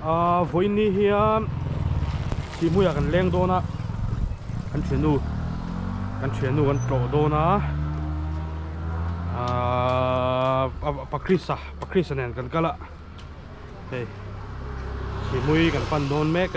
Ahh vawiinni hian Sihmuiah kan leng dawn a kan thiannu kan thiannu kan tlawh dawn a ahh a pa krista pa krista nen kan kal a hei Sihmui kan pan dawn mek a.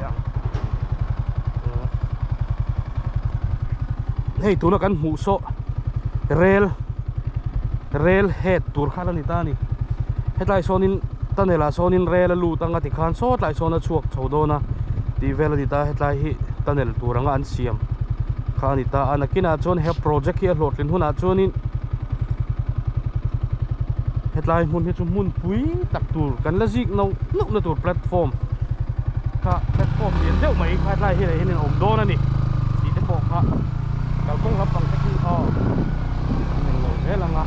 hei tuna kan hmuh saw rail rail het tur khan a ni ta a ni hetlai sawnin tunnel ah sawnin rail a lut anga ti khan sawtlai sawn a chhuak chho dawn a tih vel a ni ta hetlai hi tunnel tur anga an siam kha a ni ta a nakinah chuan he project hi a hlawhtlinah chuanin hetlai hmun hi chu hmun-- pui tak tur kan la zik no no na tur platform kha platform lian deuh mai kha tlai hi leh hian in awm dawn a ni tih te pawh kha kalkawng lampang te hi aw kan rawn ngawi zel ang a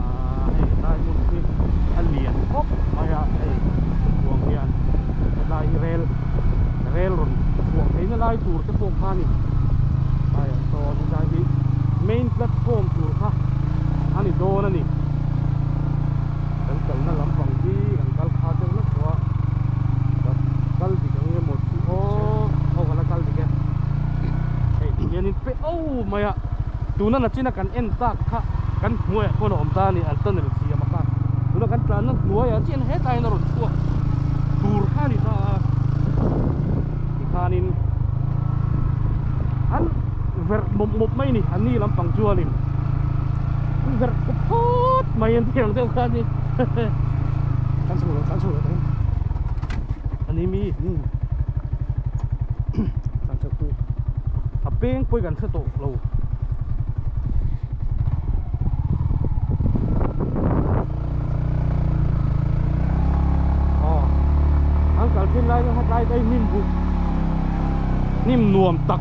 ahh hei helai hmun hi a lian khawp mai a hei khawpui hian helai hi rel rel rawn chhuah theih na lai tur te pawh kha a ni hei so helai hi main platform tur kha a ni dawn a ni. kan kalna lampang hi kan kal kha deuh nat pawh a kal dik ang emaw chu aw aw ka la kal dik e hei ti hianin pe au mai a tuna nachina kan en tak kha kan hmuai ah pawn a awm ta a ni an tunnel siam a kha tuna kan tlanna hnuai ah chian hetlaiin a rawn chhuak tur kha a ni ta a tikhanin an verh mawp mawp mai ni an ni lampang chuan in verh khawp khawp mai an ni ang deuh khan ni kan chhung lo kan chhung lo kan ani mi ni kan chhung tu a peng pawih kan hre tawh lo an kalphin lai chu hetlai te hnim buk hnim nuam tak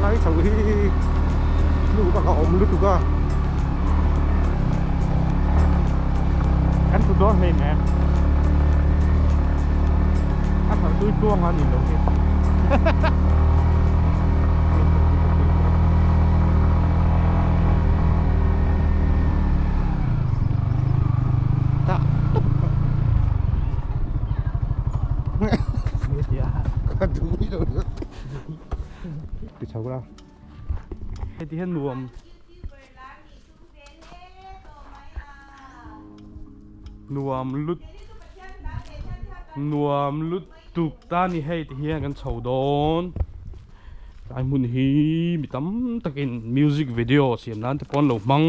Hlai chhoh hi nu bak a awm lutuk a, kan thu dawn hlein em? A thar tui tluang a nih loh hi tak tak ka duh mai lo nia ti chho la heti hian nuam nuam lut nuam lut tuk ta ni hei ti hian kan chho dawn ai hmun hi mi tam takin music video siam nan te pawh an lo hmang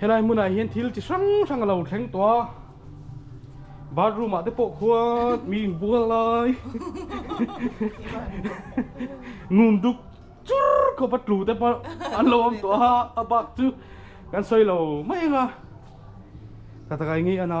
Helai hmunah hian thil chi hrang hrang a lo thleng tawh a, bathroom ah te pawh khuan mi in bual lai ngun duk chur khawpa tlu te pawh an lo awm tawh a, a bak chu kan sawi lo mai anga tha taka eng nge i ana.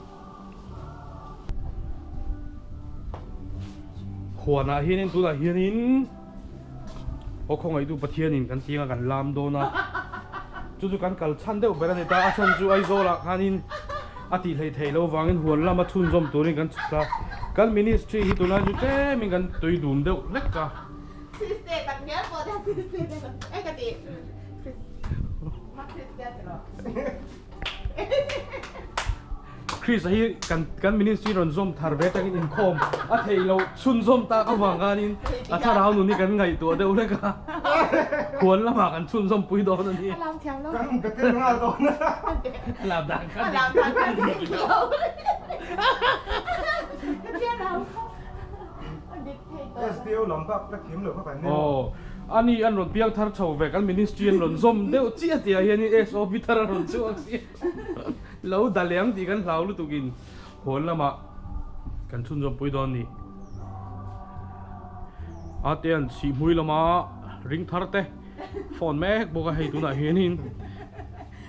Huanah hianin tunah hianin aw khawngaihtu Pathianin kan tianga kan lam dawn a, chu chu kan kal chhan deuh ber a ni ta, a chhan chu Aizawlah khanin a tih hleih theih loh vangin huan lama chhunzawm turin kan chhuk ta. Kan Ministry hi tunah chu tlemin kan tui dum deuh vek a. Kriste tak hmel pawh te Kriste te ka tih. Christ hi kan kan ministry rawn zawm thar ve takin inkhawm a theih loh chhun zawm tak avang khanin a thlarau nun hi kan ngaihtuah deuh hlek a huan lamah kan chhun zawm pui dawn a ni. Kan betel nghal dawn a a lam dan kha dik dik a dik dik a. Sdo lam bak ka thim lo ka kan nen. Aw a ni an rawn piang thar tho vek an ministry an rawn zawm deuh chiah a tia hian in SOP thar a rawn chhuak sia lo daliang tih kan hlau lutuk in hawn lamah kan chhun zawm pui dawn a ni a te an chhih hmui lama ring thar te phone mek bawk a hei tunah hian in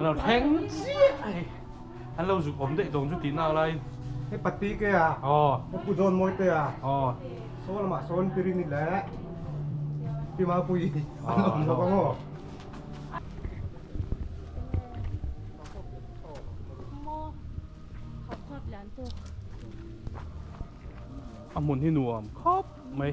Lo thleng chiah a ni. An lo zuk awm daih dawn chu tihna a laiin. He pati ke a? Aw. He Pu Dawnmawi te a? Aw. Saw lamah sawn Pirini leh Pi Mapuii an awm bawk a maw? A hmun hi nuam khawp mai.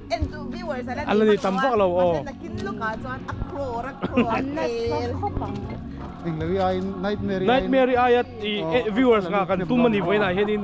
A la ni tam vak lo aw. Nightmare i aia viewers nga kan tum anih vawiin ah hianin.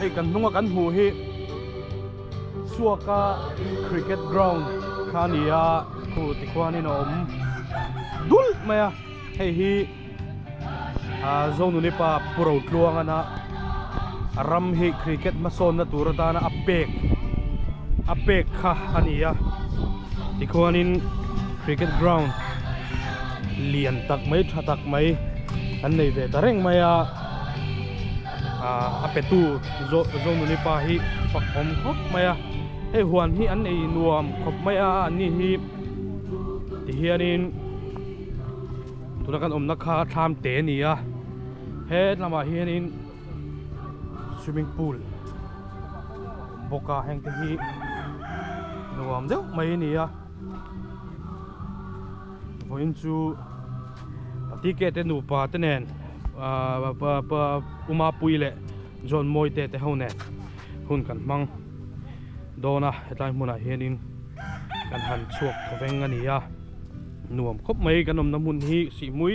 Hei kan hnunga kan hmuh hi Suaka Cricket Ground kha a ni a, khu tikhuanin a awm dulh mai a, hei hi Zonunipa Pu Rotluangana ram hi Cricket hmasawnna tur atana a pek a pek kha a ni a, tikhuanin Cricket Ground lian tak mai, tha tak mai kan nei ve ta reng mai a. A petu Zonuni pa hi fakhawm khawp mai a, hei huan hi an ei nuam khawp mai a a ni hi tihianin tuna kan awmna kha thlam te a ni a, he hlamah hianin swimming pool a awm bawk a hengte hi nuam deuh mai a ni a. vawiin chu ticket te nupa te nen ah pa pa umapuii leh john mawi te te ho nen hun kan hmang dawn a hetlai hmunah hianin kan han chhuak tha veng a ni a nuam khawp mai kan awmna hmun hi Sihmui.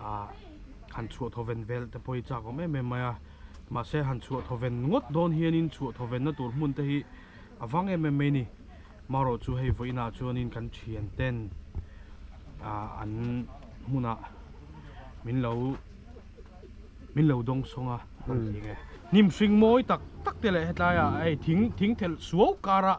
ah han chhuahthaw ven vel te pawh hi chak awm em em mai a mahse han chhuahthaw ven ngawt dawn hianin chhuahthaw venna tur hmun te hi a vang em em mai ni maroh chu hei vawiin ah chuanin kan thian ten ah an hmunah min lo min lo dawng sawng a hnim hring mawi tak tak te leh hetlai ah hei thing thing thelh suau karah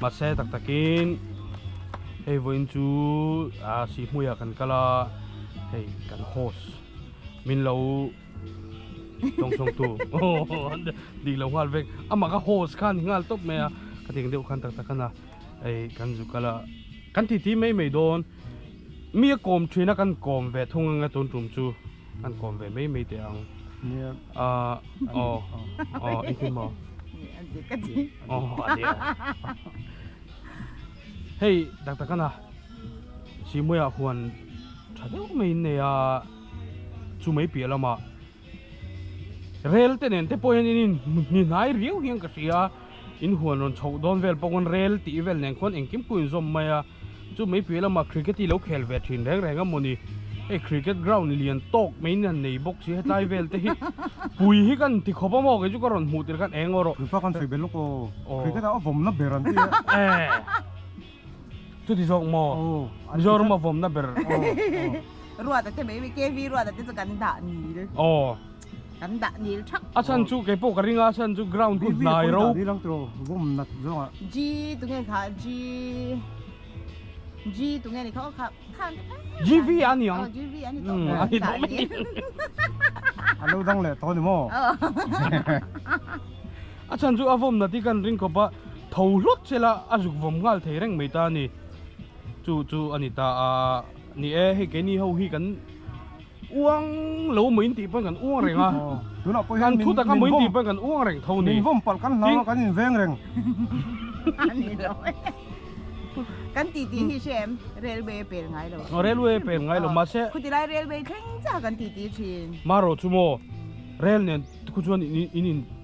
Mahse tak takin hei vawiin chu aa sih hmuiah kan kal a, hei kan host min lo tawng sawngtu dik lo nghal vek, amah ka host khan i nghal tawp mai a, ka deng deuh khan tak tak khan a hei kan zu kal a, kan titi mai mai dawn mia kawm thin a kan kawm ve thung ang a tun tum chu. Kan kawm ve mai mai teh ang. Nia. Ah, oh, oh, i thim maw? Nia, a dik a ti. Oh, a dik a. Hei, tak tak ana. Simuia huan tha deuh mai in nei a. Chu mai piah lamah, rel te nen te pawh hian in inhnihnai riau hian ka hria. In huan rawn chhoh dawn vel pawh ngawn rel tih vel nen khawn engkim pawhin zawm mai a, chu mai piah lamah cricket hi lo khel ve thin reng reng a maw ni. Hei cricket ground lian tawk mai in han nei bawk si, hetlai vel te hi pui hi ka han ti khawp a maw, kei chu ka rawn hmuh tel khan eng aw rawh. Fifa khan sawi belh lawk aw, cricket a vawmna ber an ti a. Eeh chuti zawk maw, Mizoram a vawmna ber. Ruata te mai, KV ruata te chu kan dah nil. Aw. kan dah nil thak a san chu kei pawh ka ring a a san chu ground chu hnai ro ni lang tro vawm nat zawng a g tu nge kha g g tu nge ni kha kha khan g v a ni ang g v a ni to a ni to mi a lo dang le to ni mo a san chu a vawm nat i kan ring khawp a tho hlawt chela a zuk vawm nghal thei reng mai ta ni chu chu a ni ta a ni e hei kei ni ho hi kan uang lo mai intih pawn kan uang reng a tunah pawh hian kan thu taka mai intih pawn kan uang reng tho ni min vawm palh kan hlau a kan in veng reng a ni lo kan ti ti hi hriat em railway a pel ngai lo a railway a pel ngai lo mahse khuti lai railway thleng chang kan ti ti thin mah rawh chu maw rail nen te chu chuan in in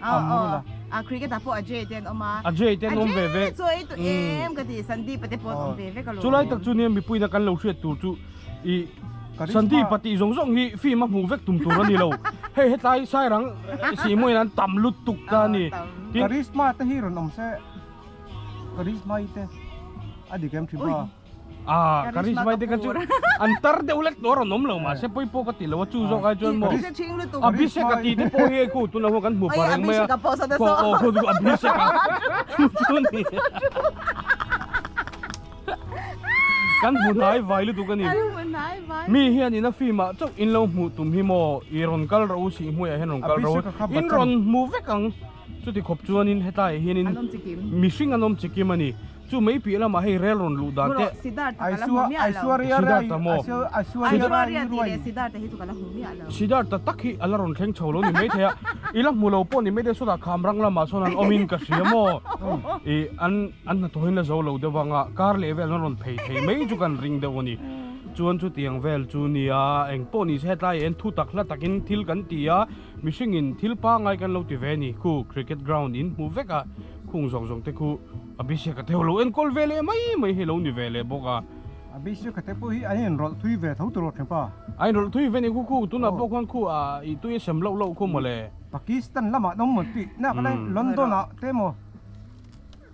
Amrula. A ah, cricket a pawh a Jay ten oma. A Jay ten om ve ve. Chu ei tu em hmm. ka ti Sandeep te pawh om ve ve ka lo. Chulai tak chu ni mi puina kan lo hriat tur chu i Sandeep pati zong zong hi film a hmuh vek tum tur ani lo. Hei hetlai sairang si mo inan tam lut tuk ta ni. Charisma te hi ron om se. Charisma te. Adi kem thiba. Ah, karisma mai teka chu an tar deuh lek tur an awm lo mah se pawh i pawh ka ti lo a chu zawk ai chuan maw Abhishek a tih te pawh hi khu tuna hawk kan hmu pah reng mai a aw khaw chu Abhishek a chu chu a ni kan hmu hnai vai lutuk a ni mi hian ina film ah chauh in lo hmuh tum hi maw i rawn kal ro u si i hmuiah hian rawn kal ro u in rawn hmu vek ang chuti khawp chuan in hetlai ah hian in mihring an awm chi kim a ni. Chu mai piah lamah hei rel rawn luh dan teh. Siddhartha ka la hmu miah lo. Siddhartha maw? Aishwarya tih leh Siddhartha hi chu ka la hmu miah lo. Siddhartha tak hi a la rawn thleng chho lo ni maithei a, i la hmu lo pawh ni maithei sawtah Khamrang lamah chuan an awm in ka hria maw? I an an hnathawhin la zo lo deuh vanga kar leh vel an rawn phei thei mai chu kan ring deuh a ni. Chuan chutiang vel chu nia, engpawh ni se hetlai ah hian thutak hla takin thil kan ti a, Mihringin thil pangngai kan lo ti ve a ni. Khu Cricket Ground in hmuh vek a, khung zawng zawng te khu Abhishek a theo lo enkawlh ve leh mai mai hi lo ni ve leh bawk a. Abhishek te pawh hi an in rawlh thui ve tho tur awrh pa. A in rawlh thui ve a ni khu khu tunah pawh khan khu a ih tui a sem loh loh khu mawle. Pakistan lamah dawng maw tih, nakah hian London ah te maw.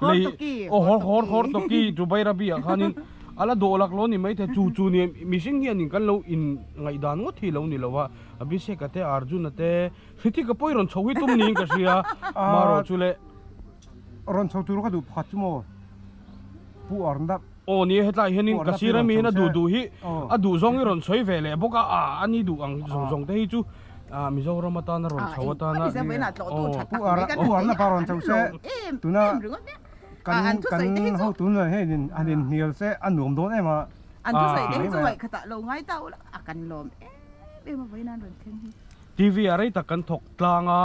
Lei aw hawr hawr hawr tawki chu Bairabiah khanin a la dawh lak lo ni mai thei chu chu nia mihring hianin kan lo in ngaihdan ngawt hi lo ni lo a Abhishek-a te Arjun-a te Hrithik-a pawh i rawn chho hi tum niin ka hria marawh chu le rawn chho tur ka duh pakhat chu maw Pu Arnab. Aw nia hetlai hianin ka sir ami hian a duh duh hi a duh zawng hi rawn sawi ve leh bawk a a a ni duh ang zawng zawng te hi chu ah Mizoram atan a rawn chho atan a aw pu ar a pu arna pawh a rawn chho se tuna kan kan ho tun leh hi in an in hnial se a nuam dawn em a an thu sawi te hi chu ngaih kha ta lo ngai ta ula a kan lawm em em a vawiin an rawn thleng hi TV a rei tak kan thawk tlang a.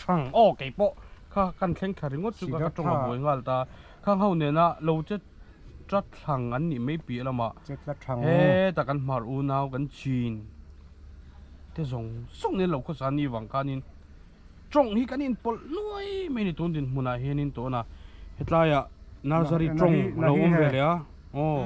Thang aw kei pawh kha kan thleng thla ringawt chu ka tawng a buai nghal ta khang ho nena lo che tla thlang an nih mai piah lamah heta kan hmar unau kan chin te zawng zawng in lo khaw sa ni vang khanin tawng hi kan in pawlh nuai mai ni tun din hmunah hianin tawna hetlaiah nursery tawng lo awm ve leh a aw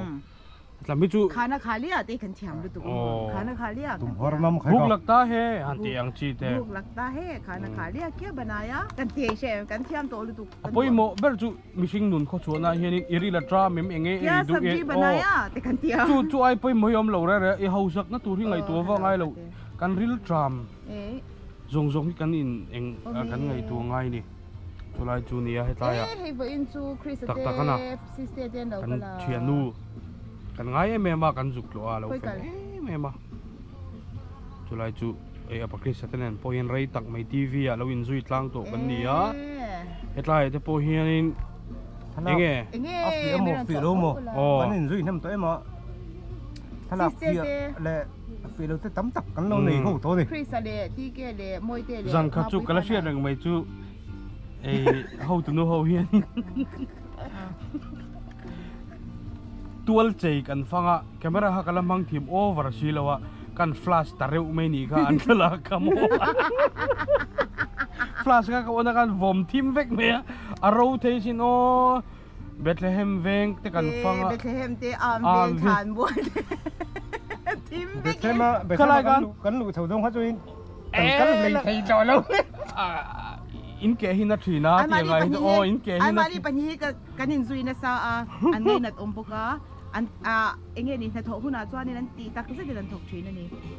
tlam hi chu khana kha le ate kan thiam lutuk a khana kha le tum hor mam khai buk lak ta he han ti ang chi te buk lak ta he khana kha le kia banaya kan ti she kan thiam to lutuk apoi mo ber chu mihring nun kho chu na hian i ri la tra mem enge e du e banaya te kan ti a chu chu ai poi mo yom lo re re i hausak na tur hi ngai tu va ngai lo kan ril tram zong zong hi kan in eng kan ngai tu ngai ni chulai chu nia hetlai ah hei vawiin chu christa te baptist te te an lo kal a kan thiannu kan ngai em em a kan zuk tluah a lo fel em em a chulai chu ei apa christa te nen pawh hian rei tak mai tv ah lo inzui tlang tawh kan ni a hetlai te pawh hianin enge enge a fiah maw fiah lo maw kan inzui hnem tawh em a thlalak piah leh peh lote tam tak kan lo nei ho tawh a ni Christ leh TK leh Mawite leh zan khat chu ka la hriat reng mai chu ei ho tu nu ho hian tual chei kan fanga camera ha ka la mang thim over si lo a kan flash ta reuh mai ni kha an thlalak ka mo flash ka ka on a kan vawm thim vek mai a a ro thei sin aw Bethlehem veng te kan fang a. Bethlehem te âwm veng ṭhan buai te thim vek in. Bethlehem a Bethlehem kan luh kan luh chho zawng kha chuan kan kal hlei thei tawh lo. In keh hi na ṭhin a tih ang ai hi chu aw in keh hi na ṭhin. Ai mahni pahnih hi kan in zui nasa a an ngei nat awm bawk a an eng nge ni hnathawh hunah chuan an tih tak zet in an thawk ṭhin a ni.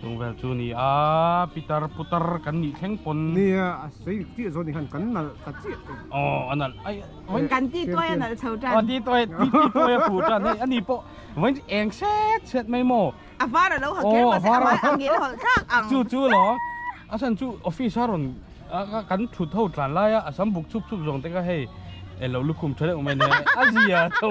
Chung vel chu ni a pitar putar kan nih thleng pawn. Nia a sei chiah zawh nih khan kan nalh ta chiah tawh. Aw a nalh ai. Vawiin kan ti tuai a nalh chho tan. Aw ti tuai ti tuai a fuh tan hei ani pawh vawiin eng set set mai maw. A var a lo ha kher mahse a vai a ngil hawlh thlak ang. Chu chu lo a san chu office a rawn kan thut ho tlan lai a a sam buk chhup chhup zawng te ka hei elo lukhum tha deuh mai nia a zia tho.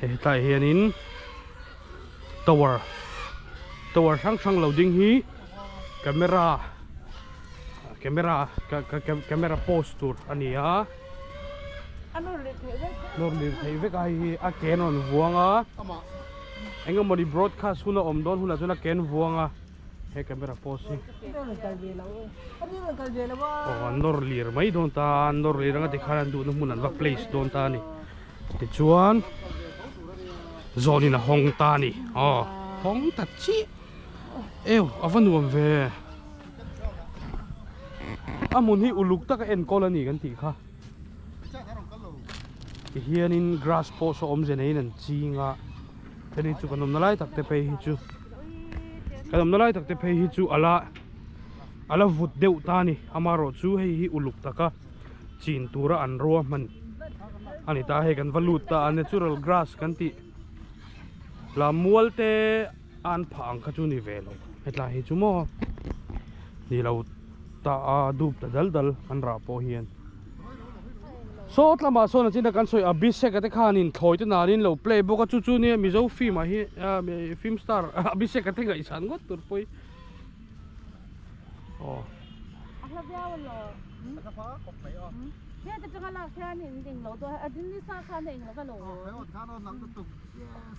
hetlai hianin tower tower hrang hrang lo ding hi camera camera camera post tur a ni a nawr lir theih vek ai hi a keng rawn vuang a eng emaw ni broadcast hun a awm dawn hunah chuan a keng vuang a. he camera pose hi an rawn kal ve lo e an in rawn kal ve lo va aw an nawr lir mai dawn ta an nawr lir ang a tikhan an duhna hmun an va place dawn ta a ni tichuan zawnin a hawng ta a ni aw hawng ta chiah eww a va nuam ve a hmun hi uluk taka enkawl a ni kan tih kha ti hianin grass pawh saw awmze neiin an ching a chuan hei chu kan awmna lai takte phei hi chu kan awmna lai takte phei hi chu a la a la vut deuh ta a ni amaherawhchu chu hei hi uluk taka chin tura an rua hman a ni ta hei kan va lut ta a nia chu ral grass kan tih hla mualte-- An phah ang kha chu ni ve lo. Hetlai hi chu maw ni lo ta a dup ta dal dal kan rah pawh hian. Sawt lamah sawn a chin a kan sawi Abhishek te khan in thlawi te nan in lo play bawk a chu chu nia Mizo film ah hi film star Abhishek te ngaihsan ngawt tur pawh hi aw a hla viau a lo a ka hma khawp mai aw he te changa lak hian in englo dawn a din ni sa khan englo ka lo a khan a nang lutuk yes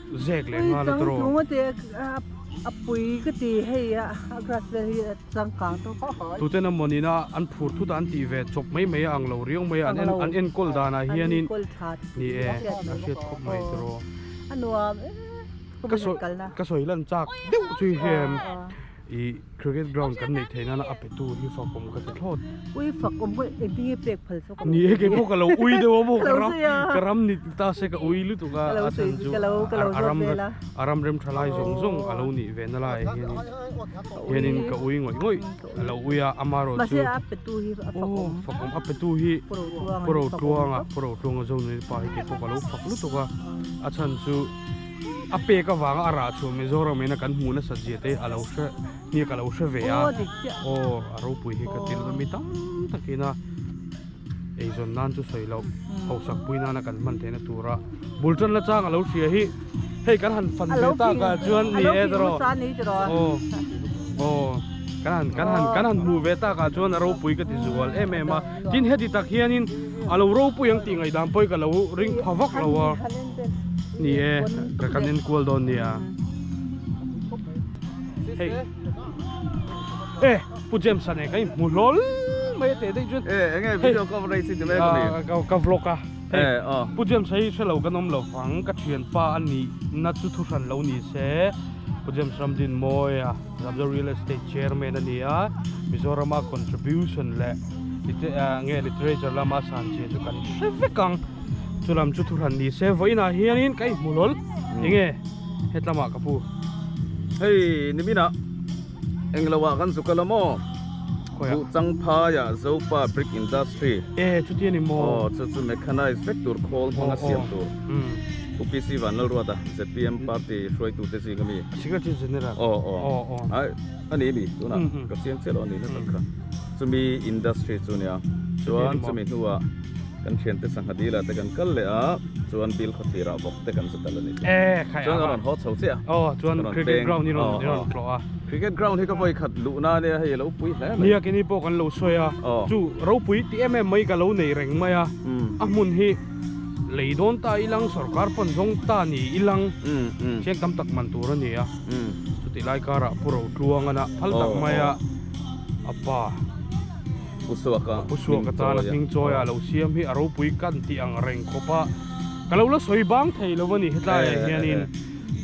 Zek leh nghal a draw. Chang tung a ti a a pui ka ti hei a a grass vel hi a changkang tawh kha kha. Tute na mawnin a an phur thu dan tih ve chawp mai mai a ang lo riau mai a an en an enkawl danah hian in ni e a hriat khawp mai a draw. A nuam e ka sawi kalna. Ka sawi lan chak deuh chu i hriat em. i cricket ground kan neih theih nana a pe tu hi fak awm ka ti thlawt ui fak awm ka engtinge pek phal chu ka ni e kei pawh ka lo ui deuh a maw ka ram ka ram ni ta se ka ui lutuk a a then chu a ram a ram rem tha lai zawng zawng a lo ni ve na lai hian hian in ka ui ngawih ngawih a lo ui a ama erawh chu a pe tu hi a fak awm fak awm a pe tu hi puro tluang a puro tluang a zawng nui pa hi kei pawh ka lo fak lutuk a a chhan chu a pek avanga a rah chhuah Mizoram ena kan hmuh nasat zia te a lo hre nge ka lo hre ve a aw a ropui hi ka ti lova mi tam takina eizawn nan chu sawi lo hausak pui nana kan hman theihna tura bul tan la chang a lo hria hi hei kan han fan ve ta ka chuan ni e dro aw aw kan han kan han kan han hmu ve ta ka chuan a ropui ka ti zual em em a Tin heti tak hianin a lo ropui ang tih ngaihdan pawhin ka lo ring pha vak lo a, ni e, ka kan enkual dawn nia. Hei, e, Pu James a nen ka inhmu hlawl mai a teh daih chuan. E, eng nge video coverage hi ti mai ka ni? Ka, ka vlog a. E, a. Pu James hi hre lo kan awm lo vang, ka thianpa a nihna chu thu hran lo ni se, Pu James Ramdin mawi a. Ramlo Real Estate Chairman a ni a, Mizorama contribution leh nge literature lama san che chu kan hre vek ang. Chu lam chu thuhran ni se vawiinah hianin ka inhmu lawlh. Enge hetlamah ka pu? Hei niminah englo ah kan zuk a la maw? Buh changphai ah Zopa Brick Industry. E chutia ni maw? Aw chu chu mechanized vek tur khawl hmanga siam tur. UPC Vanlalruata, ZPM party hruaitute zing a mi. Secretary General. Oh, oh. Oh, oh. Ai, ani mi tuna. Mm -hmm. Ka chiang che lo ani na takha. Chumi industry chu nia. Chuan chumi hnuwa kan thian te sangha dila te kan kal le a. Chuan bill khaw thira bawk te kan chu tal ani. Eh, khai. Chuan ron ho chho che a. Oh, chuan cricket ground ni ron ni ron tlo a. Cricket ground hi ka voi khat lu na nia hei lo pui hle. Nia ke ni po kan lo soi a. Chu ro pui ti em em mai ka lo nei reng mai a. A hmun hi lei dawn ta i lang sawrkar pawn zawng ta ni i lang chiang tam tak man tur a ni a chuti lai karah pu rotluanga na phal tak mai a a pa pu suaka pu suaka chana hming chawi a lo siam hi a ropui kan tih ang reng khawp a ka lo la sawi bang thei lo a ni hetlai ah hianin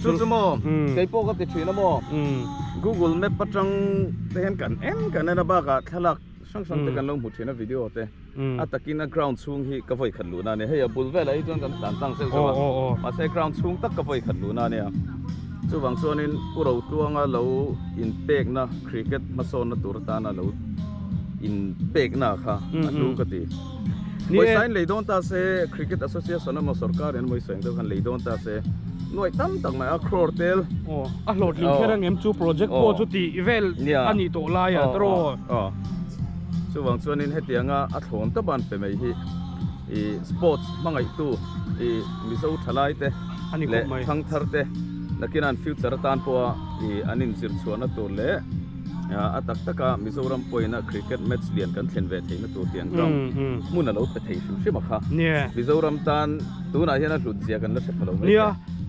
chu chu maw kei pawh ka ti thin a maw google map atang te hian kan en kan en a bakah thlalak hrang hrang te kan lo hmu thin a video te a takin a ground chhung hi ka vawi khat luhna ania hei a bul velah hi chuan kan tlan tlang zeuh zeuh a mahse ground chhung tak ka vawi khat luhna ania chuvang chuanin u rotluanga lo in pekna cricket hmasawnna tur atana lo in pekna kha a hnu ka ti moisain lei dawn ta se cricket association emaw sorkar in mawisa engdeuh khan lei dawn ta se nuaih tam tak mai a crore tel aw a hlawhtling kher angem chu project pawh chu tih vel a ni tawh lai ah taraw. Chuvang chuanin hetianga a thlawn ta ban pe mai hi i sports hmangaihtu i Mizo thalaite leh thangtharte nakina an future atan pawha i an inzir chhuahna tur leh a tak taka Mizoram pawhin a cricket match lian kan thlen ve theihna tur tiang chuan hmun a lo pe thei hrim hrim a kha. Mizoram tan. tunah hian a hlut zia kan la hre pha lo mai nia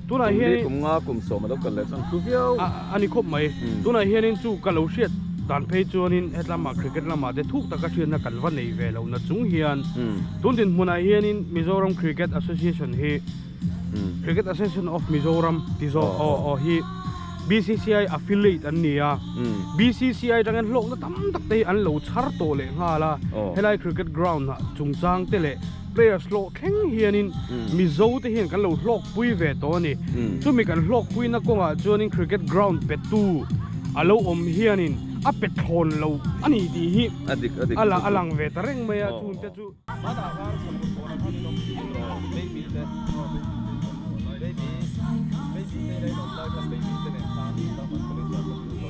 tunah hian kum li kum nga kum sawm a lo kal leh chuan thu viau a a ni khawp mai hmm. tunah hian in chu ka lo hriat dan phei chuan in hetlama cricket lama te thuk taka hriatna kan va nei ve lo na chung hian hmm. tun din hmunah hian in mizoram cricket association hi hmm. cricket association of mizoram tizo oh, o oh. o hi BCCI affiliate an ni a BCCI tang an hlawkna tam tak te an lo chhar tawh leh nghal a oh. helai cricket ground ah chungchang te leh Players hlawh thleng hianin Mizo te hian kan lo hlawk pui ve tawh a ni. Chumi kan hlawk puina kawngah chuanin Cricket Ground petu a lo awm hianin a pe thlawn lo a nih tih hi a la a lang ve ta reng mai a. Chung te chu.